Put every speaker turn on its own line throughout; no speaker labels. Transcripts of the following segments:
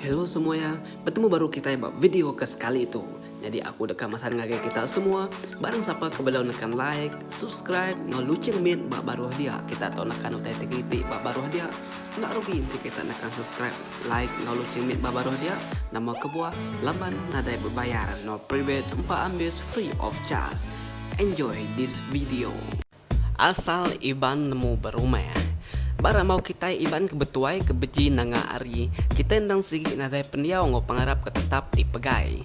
Hello semua ya, bertemu baru kita ba video ke sekali tu. Jadi aku deka masan ngagai kita semua, barang siapa ke belum nekan like, subscribe, no lucing min ba baruh dia. Kita tu nekan utai tigiti ba baruh dia. Enda rugi enti kita nekan subscribe. Like lalu cimit ba baruh dia nama kebuah laban nadai bebayar no private empa ambis free of charge enjoy this video. Asal Iban nemu berumah. Ba rambau kitai Iban ke betuai ke beji nanga ari, kitai endang sigi nadai pendiau enggau pengarap ke tetap dipegai.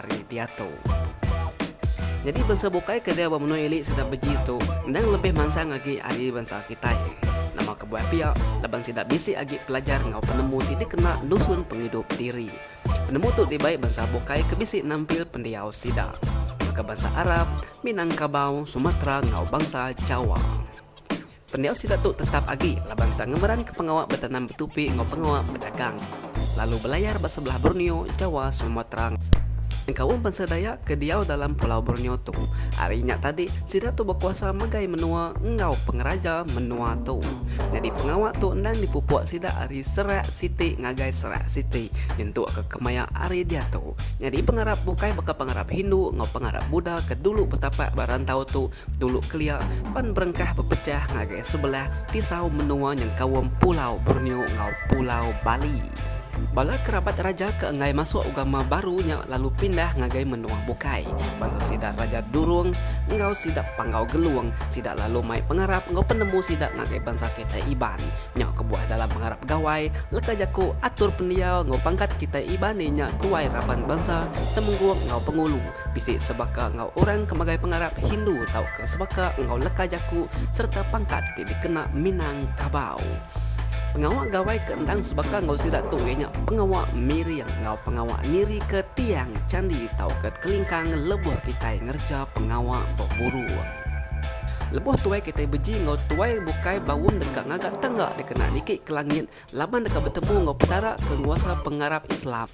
ari diatu. Nyadi bansa bukai ke dia ba menua ili sida beji tu endang lebih mansang agi ari bansa kitai. Nama kebuah pia laban sida bisi agi pelajar enggau penemu ti dikena nusun pengidup diri. Penemu tu dibai bansa bukai ke bisi nampil pendiau sida baka bansa Arab, Minangkabau, Sumatra enggau bansa Jawa. Pendiau sida tu tetap agi laban sida ngemeranka pengawa betanam betupi enggau pengawa bedagang, lalu belayar ba sebelah Borneo, Jawa, Sumatra, engkau um bansa Dayak ke diau dalam Pulau Borneo tu. Ari nya tadi, sida tu bekuasa megai menua enggau pengeraja menua tu. Nyadi pengawa tu endang dipupuk sida ari serak siti ngagai serak siti nyentukka kemaya ari diatu. Nyadi pengarap bukai baka pengarap Hindu enggau pengarap Buddha ke dulu betapak ba rantau tu Dulu kelia, pan berengkah bepejah ngagai sebelah tisau menua nyengkaum Pulau Borneo enggau Pulau Bali. Bala kerabat raja ke enggai masuk ugama baru nya lalu pindah ngagai menua bukai. Bala sida Raja Durung enggau sida Panggau Gelung, sida lalu mai pengarap enggau penemu sida ngagai bansa kitai Iban. Nya kebuah dalam pengarap Gawai, leka jaku, atur pendiau enggau pangkat kitai Iban iya nya tuai raban bansa, temenggung enggau pengulu. Bisi sebaka enggau orang ke magai pengarap Hindu tauka sebaka enggau leka jaku sereta pangkat ti dikena Minang Kabau. Pengawa gawai ke endang sebaka enggau sida tu iya nya pengawa miring enggau pengawa nirika tiang chandi tauka kelingkang lebuh kitai ngereja pengawa beburung. Lebuh tuai kitai beji enggau tuai bukai baum deka ngaga tangga dikena niki ke langit laban deka betemu enggau Petara ke nguasa pengarap Islam.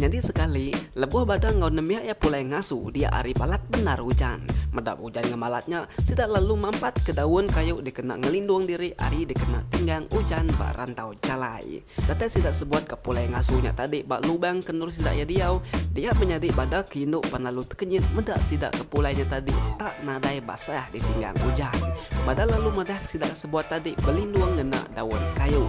Nyadi sekali, lebuh badan enggau nembiak iya pulai ngasu dia ari balat bendar ujan. Meda ujan ngemalat nya, sida lalu mampatka daun kayu dikena ngelindung diri ari dikena tinggang ujan ba rantau jalai. Datai sida sebuat ka pulai ngasu nya tadi ba lubang ke endur sida iya diau, dia menyadi bada ke indu pan lalu tekenyit meda sida ke pulai nya tadi enda nadai basah ditinggang ujan. Bada lalu madahka sida sebuat tadi belindung ngena daun kayu.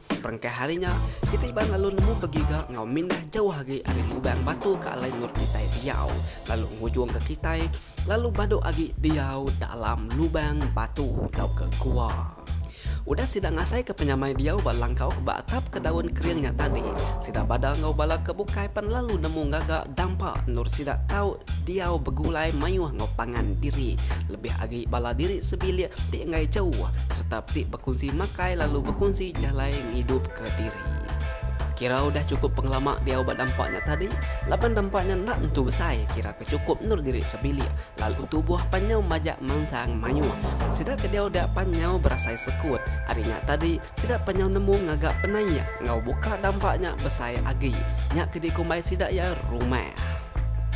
Diperengkah ari nya, kitai Iban lalu nemu begiga enggau mindah jauh agi ari lubang batu ke alai endur kitai diau, lalu ngujungka kitai lalu badu agi diau dalam lubang batu tauka gua. Udah sida ngasaika penyamai diau ba langkau ke ba atap ke daun kering nya tadi, sida Bada enggau Bala ke bukai pan lalu nemu ngaga dampa endur sida tau diau begulai mayuh enggau pangan diri, lebih agi bala diri sebilik ti enggai jauh sereta ti Kunsi makai lalu bekunsi jalai ngidup ke diri. Kira udah chukup pengelama diau ba dampa nya tadi, laban dampa nya enda nentu besai kira ke chukup endur diri sebilik lalu tubuh pan nyau majak mansang mayuh. Sida ke diau dia pan nyau berasai sekut, ari nya tadi sida pan nyau nemu ngaga penaik enggau buka dampa nya besai agi. Nya ke dikumbai sida iya rumah.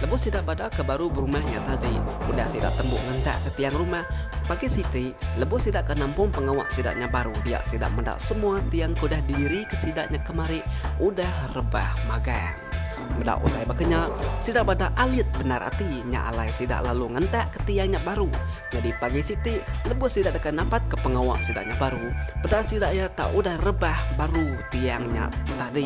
Lebuh sida bada ke baru berumah nya tadi, udah sida tembu ngentak ke tiang rumah. Pagi siti, lebuh sida ke nampung pengawa sida nya baru dia sida meda semua tiang ke udah diri ke sida nya kemari udah rebah magang. Meda utai baka nya, sida bada alit bendar ati nya alai sida lalu ngentak ke tiang nya baru. Nyadi pagi siti, lebuh sida deka napat ke pengawa sida nya baru, peda sida iya tak udah rebah baru tiang nya tadi.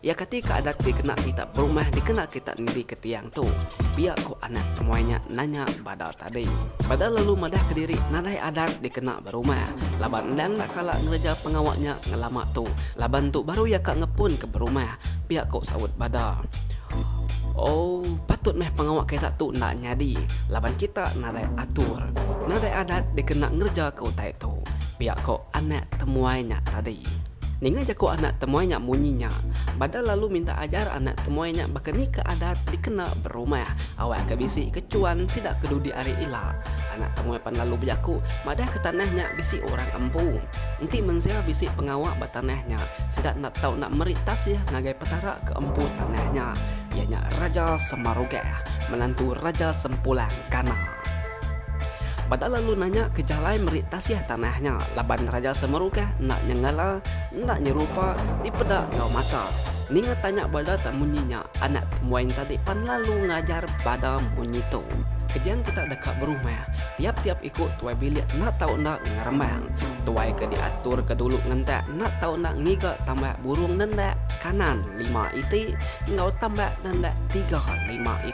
Iya kati ka adat ti kena kita perumah dikena kita nindika tiang tu? pia ku anak temuai nya nanya Badal tadi. Badal lalu madahka diri nadai adat dikena berumah laban endang enda kala ngereja pengawa nya ngelama tu laban tu baru iya ka ngepunka berumah, pia ku saut Badal. Ooh patut meh pengawa kita tu enda nyadi laban kita nadai atur, nadai adat dikena ngereja ke utai tu, pia ku anak temuai nya tadi. Ninga jaku anak temuai nya munyi nya, Bada lalu minta ajar anak temuai nya baka ni ke adat dikena berumah. Awak ke bisi ke chuan sida ke dudi ari ila. Anak temuai pan lalu bejaku madah ke tanah nya bisi orang empu. Enti mensia bisi pengawa ba tanah nya, sida enda tau enda meri tasih ngagai Petara ke empu tanah nya, iya nya Raja Semarugah, menantu Raja Sempulang kana. Bada lalu nanya ke jalai meri tasih tanah nya laban Raja Semerukah enda nyenggala, enda nyerupa, dipeda enggau mata. Ninga tanya Bada tak munyi nya, anak Tembuain tadi pan lalu ngajar Bada munyi tu. Kejang kita deka berumah, tiap-tiap iku tuai bilik enda tau enda ngerembang. Tuai ke diatur ke dulu ngentak enda tau enda ngiga tambak burung nendak kanan lima iti enggau tambak nendak tiga lima iti.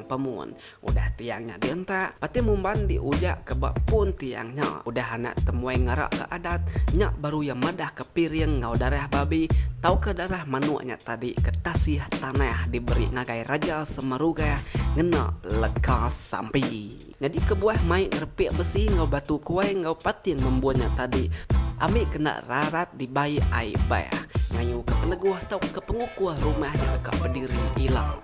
Pemun. Udah tiang nya dientak, pati Mumban diujak ke ba pun tiang nya. Udah anak Temuai ngarak ke adat, nya baru iya madah ke piring enggau darah babi tauka darah manuk nya tadi ke tasih tanah diberi ngagai Raja Semarugah ngena leka sampi. Nyadi kebuah mai ngerepik besi enggau batu kuai enggau pating membun nya tadi ambi kena rarat dibai ai bah ngayuka peneguh tauka pengukuh rumah nya deka bediri ila.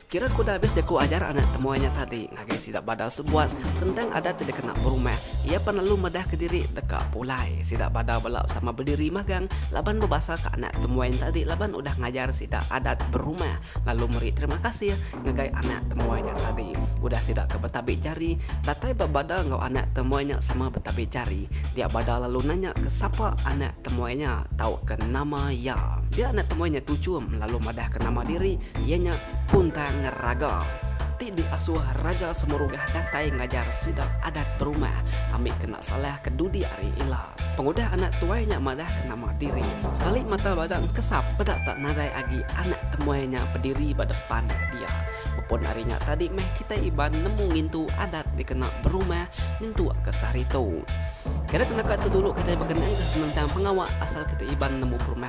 Kira ku udah abis jaku ajar anak temuai nya tadi ngagai sida Badau Sebuat sentang adat ti dikena berumah. Iya pan lalu medahka diri deka pulai. Sida Badau bela sama bediri magang laban bebasaka anak temuai nya tadi laban udah ngajar sida adat berumah lalu meri terima kasih ngagai anak temuai nya tadi. Udah sida ke betabik jari, datai ba Badau enggau anak temuai nya sama betabik jari. Dia Badau lalu nanya ke sapa anak temuai nya tauka nama iya. Dia anak temuai nya Tuchum lalu madahka nama diri. Iya nya punta ngeraga ti diasuh Raja Semurugah datai ngajar sida adat berumah ambi kena salah ke dudi ari ila. Pengudah anak tuai nya madah ke nama diri, sekali mata bada engkesa peda tak nadai agi anak temuai nya bediri ba depan dia. Bepun ari nya tadi meh kitai Iban nemu ngintu adat dikena berumah nyentukka sehari tu. Kada kena ka tu dulu kitai bekenang ke senentang pengawa asal kitai Iban nemu berumah.